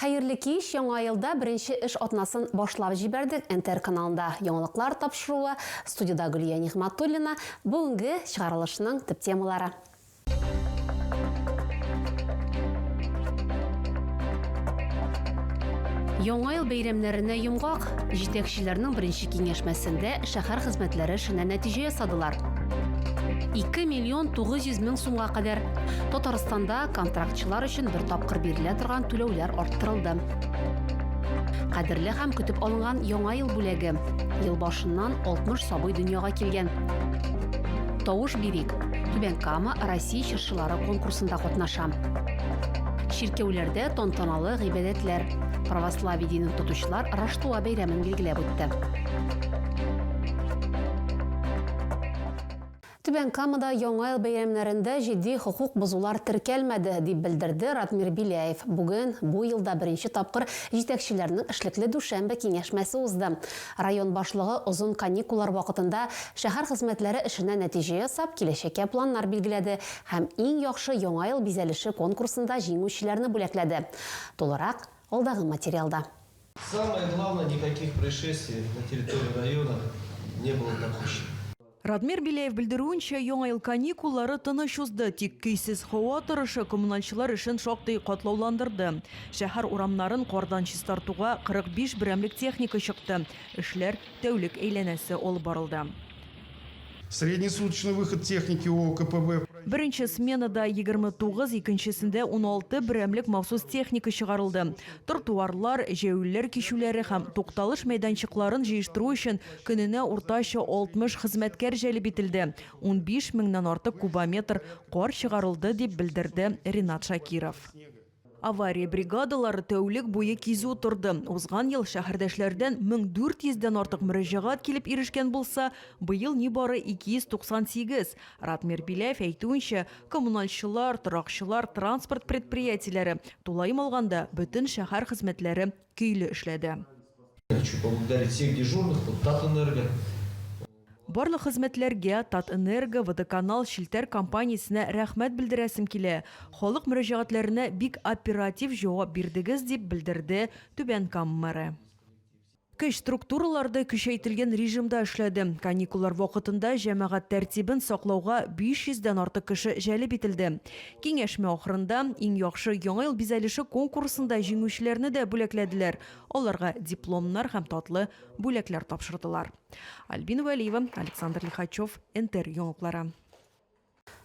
Хәерле кич, яңа елда беренче эш атнасын башлап җибәрдек, НТР каналында яңалыклар тапшыруы, студиядә Гөлия Нигъмәтуллина, бүгенге чыгарылышның төп темалары. Яңа ел бәйрәмнәренә йомгак, җитәкчеләрнең беренче киңәшмәсендә шәһәр хезмәтләре эшенә нәтиҗә ясадылар. Ике миллион тугыз йөз мең сумга кадәр Татарстанда контракт Сәяхәтчылар өчен бер тапкыр бирелә торган түләүләр арттырылды. Кадерле һәм көтеп алынган Яңа ел бүләге. Ел башыннан 60 сабый дөньяга килгән. Тавыш бирик! Түбән Кама Россия чыршылары конкурсында катнаша. Чиркәүләрдә тантаналы гыйбадәтләр. Православие динен тотучылар Раштуа бәйрәмен билгеләп үтте. Түбән Камада Яңа ел бәйрәмнәрендә җитди хокук бозулар теркәлмәде, дип белдерде Радмир Беляев. Бүген, бу елда беренче тапкыр җитәкчеләрнең эшлекле дүшәмбе киңәшмәсе узды. Район башлыгы озын каникуллар вакытында шәһәр хезмәтләре эшенә нәтиҗә ясап, киләчәккә планнар билгеләде һәм Иң яхшы Яңа ел бизәлеше конкурсында җиңүчеләрне бүләкләде. Тулырак, алдагы материалда. Самое главное, никаких происшествий на территории района не было допущено. Радмир Беляев белдерүенчә, Яңа ел каникуллары тыныч узды, тик көйсез һава торышы коммуналчылар эшен шактый катлауландырды. Шәһәр урамнарын кардан чистартуга 45 берәмлек техника чыкты, эшләр тәүлек әйләнәсе алып барылды. Среднесуточный выход техники ООКПБ. Беренче сменада 29, икенчесендә 16 берәмлек махсус техника чыгарылды. Тротуарлар, җәяүлеләр кичүләре һәм тукталыш мәйданчыкларын җыештыру өчен көненә уртача 60 хезмәткәр җәлеп ителде, унбиш меңнән артык кубометр кар чыгарылды, дип белдерде Ринат Шакиров. Авария бригадалары тәүлек буе кизү торды. Узган ел шәһәрдәшләрдән 1400 дән артык мөрәҗәгать килеп ирешкән булса, быел нибары 298. Ратмир Беляев әйтүенчә, коммуналчылар, торакчылар, транспорт предприятиеләре, тулаем алганда, бөтен шәһәр хезмәтләре көйле эшләде. Хочу поблагодарить всех дежурных, вот Татэнерго. Барлык хезмәтләргә Татэнерго, Водоканал, Челтәр компаниясенә рәхмәт белдерәсем килә, халык мөрәҗәгатьләренә бик оператив җавап бирдегез, дип белдерде Түбән Кама мэры. Көч структуралары көчәйтелгән режимда эшләде. Каникуллар вакытында җәмәгать тәртибен саклауга 500 дән артык кеше җәлеп ителде. Киңәшмә ахырында Иң яхшы Яңа ел бизәлеше конкурсында җиңүчеләрне дә бүләкләделәр, аларга дипломнар һәм татлы бүләкләр тапшырдылар. Альбина Вәлиева, Александр Лихачев, НТР яңалыклары.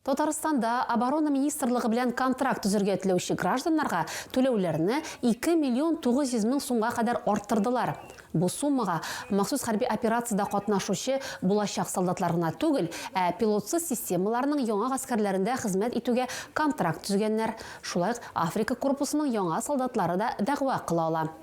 Татарстанда оборона министрлыгы белән контракт төзергә теләүче гражданнарга түләүләрне 2 миллион 900 мең сумга кадәр арттырдылар. Бу суммага махсус хәрби операциядә катнашучы булачак солдатлар гына түгел, ә пилотсыз системаларның яңа гаскәрләрендә хезмәт итүгә контракт төзегәннәр, шулай ук Африка корпусының яңа солдатлары да дәгъва кыла ала.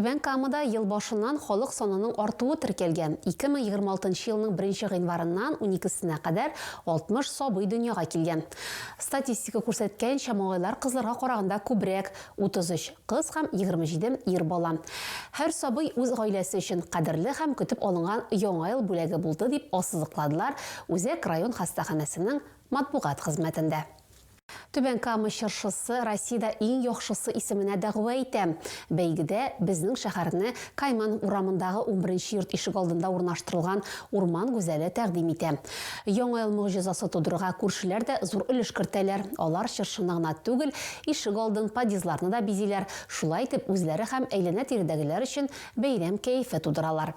Түбән Камада ел башыннан халык санының артуы теркәлгән. 2026 елның беренче гыйнварыннан уникесенә кадәр 60 сабый дөньяга килгән. Статистика күрсәткәнчә, малайлар кызларга караганда күбрәк, 33 кыз һәм 27 ир бала. Һәр сабый үз гаиләсе өчен кадерле һәм көтеп алынган Яңа ел бүләге булды, дип ассызыкладылар Үзәк район хастаханәсенең матбугат хезмәтендә. Түбән Кама чыршысы Россиядә иң яхшысы исеменә дәгъва итә. Бәйгедә безнең шәһәрне Кайман урамындагы унберенче йорт ишегалдында урнаштырылган урман гүзәле тәкъдим итә. Яңа ел могҗизасы тудырырга күршеләр дә зур өлеш кертәләр. Алар чыршыны гына түгел, ишегалдын, подъездларны да бизиләр, шулай итеп үзләре һәм әйләнә-тирәдәгеләр өчен бәйрәм кәефе тудыралар.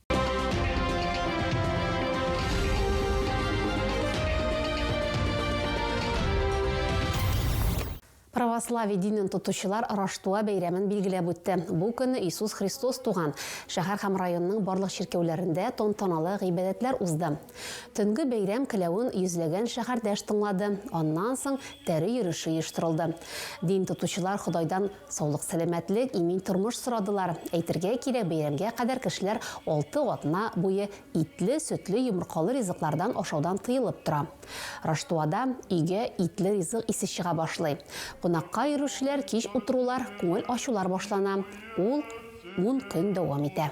Православие динен тотучылар Раштуа бәйрәмен билгеләп үтте. Бу көнне Иисус Христос туган шәһәр һәм районның барлык чиркәүләрендә тантаналы гыйбадәтләр узды. Төнге бәйрәм келәвен йөзләгән шәһәрдәш тыңлады, аннан соң тәре йөреше оештырылды. Дин тотучылар Ходайдан саулык-сәламәтлек, имин тормыш сорадылар. Әйтергә кирәк, бәйрәмгә кадәр кешеләр алты атна буе итле, сөтле, йомыркалы ризыклардан ашаудан тыелып тора. Раштуада өйгә итле ризык исе чыга башлый. Кунакка йөрүчеләр кич утырулар, күңел ачулар башлана. Ул ун көн дәвам итә.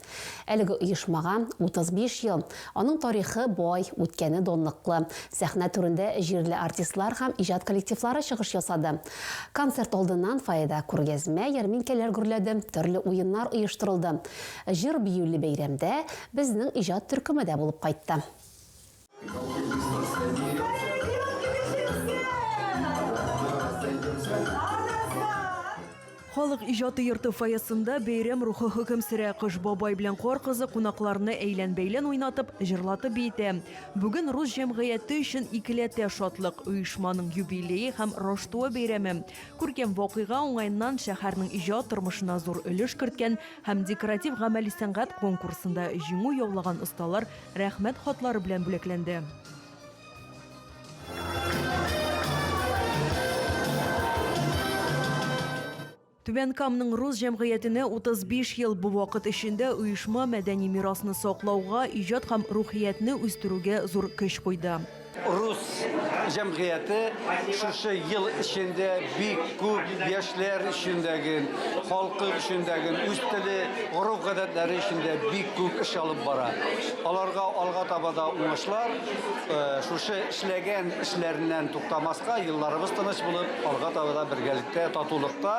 Әлеге оешмага 35 ел. Аның тарихы бай, үткәне данлыклы. Сәхнә түрендә җирле артистлар һәм иҗат коллективлары чыгыш ясады. Концерт алдыннан фойеда күргәзмә, ярминкәләр гөрләде, төрле уеннар оештырылды. Җыр-биюле бәйрәмдә безнең иҗат төркеме дә булып кайтты. Халык иҗаты йорты фойесында бәйрәм рухы хөкем сөрә. Кыш бабай белән кар кызы кунакларны әйлән-бәйлән уйнатып, җырлатып биетә. Бүген рус җәмгыяте өчен икеләтә шатлык, оешманың юбилее һәм Роштуа бәйрәме. Күркәм вакыйга уңаеннан шәһәрнең иҗат тормышына зур өлеш керткән һәм декоратив-гамәли сәнгать конкурсында җиңү яулаган осталар Рәхмәт хатлары белән бүләкләнде. Түбән Камның рус җәмгыятенә 35 ел бу вакыт эчендә оешма мәдәни мирасны саклауга, иҗат һәм рухиятне үстерүгә зур көч куйды. Рус җәмгыяте шушы ел эчендә бик күп яшьләр өчен дә, халкы өчен дә, үз теле, гореф-гадәтләре өчен дә бик күп эш алып бара. Аларга алга таба да уңышлар, шушы эшләгән эшләреннән туктамаска, елларыбыз тыныч булып, алга таба да бергәлектә, татулыкта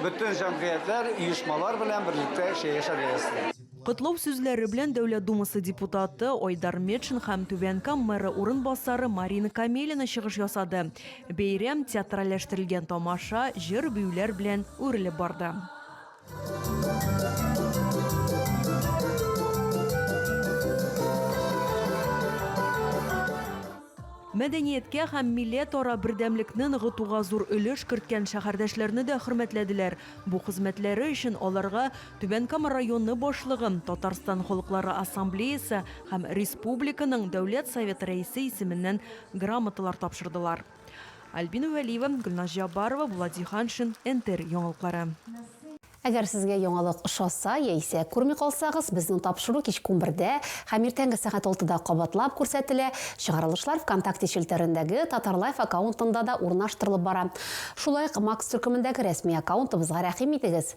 бөтен җәмгыятьләр, оешмалар белән берлектә яшәргә язсын. Котлау сүзләре белән Дәүләт Думасы депутаты Айдар Метшин һәм Түбән Кам мэры урынбасары Марина Камелина чыгыш ясады. Бәйрәм театральләштерелгән тамаша, җыр-биюләр белән үрелеп барды. Мәдәнияткә һәм милләтара бердәмлекне ныгытуга зур өлеш керткән шәһәрдәшләрне дә хөрмәтләделәр. Бу хезмәтләре өчен аларга Түбән Кама районы башлыгы, Татарстан Халыклары Ассамблеясы һәм республиканың Дәүләт Советы Рәисе исеменнән грамоталар тапшырдылар. Альбина Вәлиева, Гөлназ Җаббарова, Булат Җиһаншин, НТР яңалыклары. Әгәр сезгә яңалык ошаса яисә күрми калсагыз, безнең тапшыру кичке унбердә һәм иртәнге сәгать алтыда кабатлап күрсәтелә, чыгарылышлар ВКонтакте челтәрендәге Татарлайф аккаунтында да урнаштырылып бара. Шулай ук Макс төркемендәге рәсми аккаунтыбызга рәхим итегез!